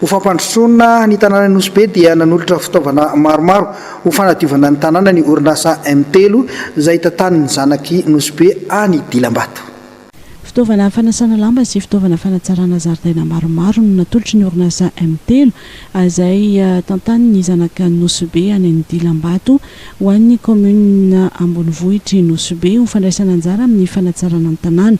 Ho fampandrosoana ny tanànan'i Nosy Be dia nanolotra fitaovana maromaro ho fanadiovana ny tanàna ny orinasa M telo izay tantanin'ny zanak'i Nosy Be any Dilambato. Fitaovana fanasana lamba sy fitaovana fanatsarana zaridaina maromaro no natolotry ny orinasa M telo izay tantanin'ny zanak'i Nosy Be any Dilambato ho an'ny kaominina ambonivohitr'i Nosy Be ho fandraisana anjara amin'ny fanatsarana ny tanàna.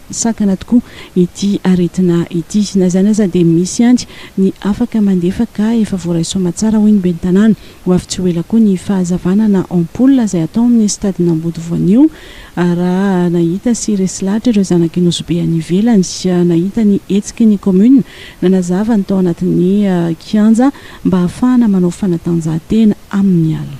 sakana tokoa ity aretina ity. Na izany aza dia misy ihany ny afaka mandefa ka efa voaray soama tsara hoy ny ben'ny tanàna. Ho avy tsy ho ela koa ny fahazavana na ampoule izay atao amin'ny stadin'Amboto voanio raha nahita sy resy lahatra ireo zanak'i Nosy Be any ivelany. Nahita ny hetsiky ny commune nanazava ny tao anatin'ny kianja mba hahafahana manao fanatanjahantena amin'ny alina.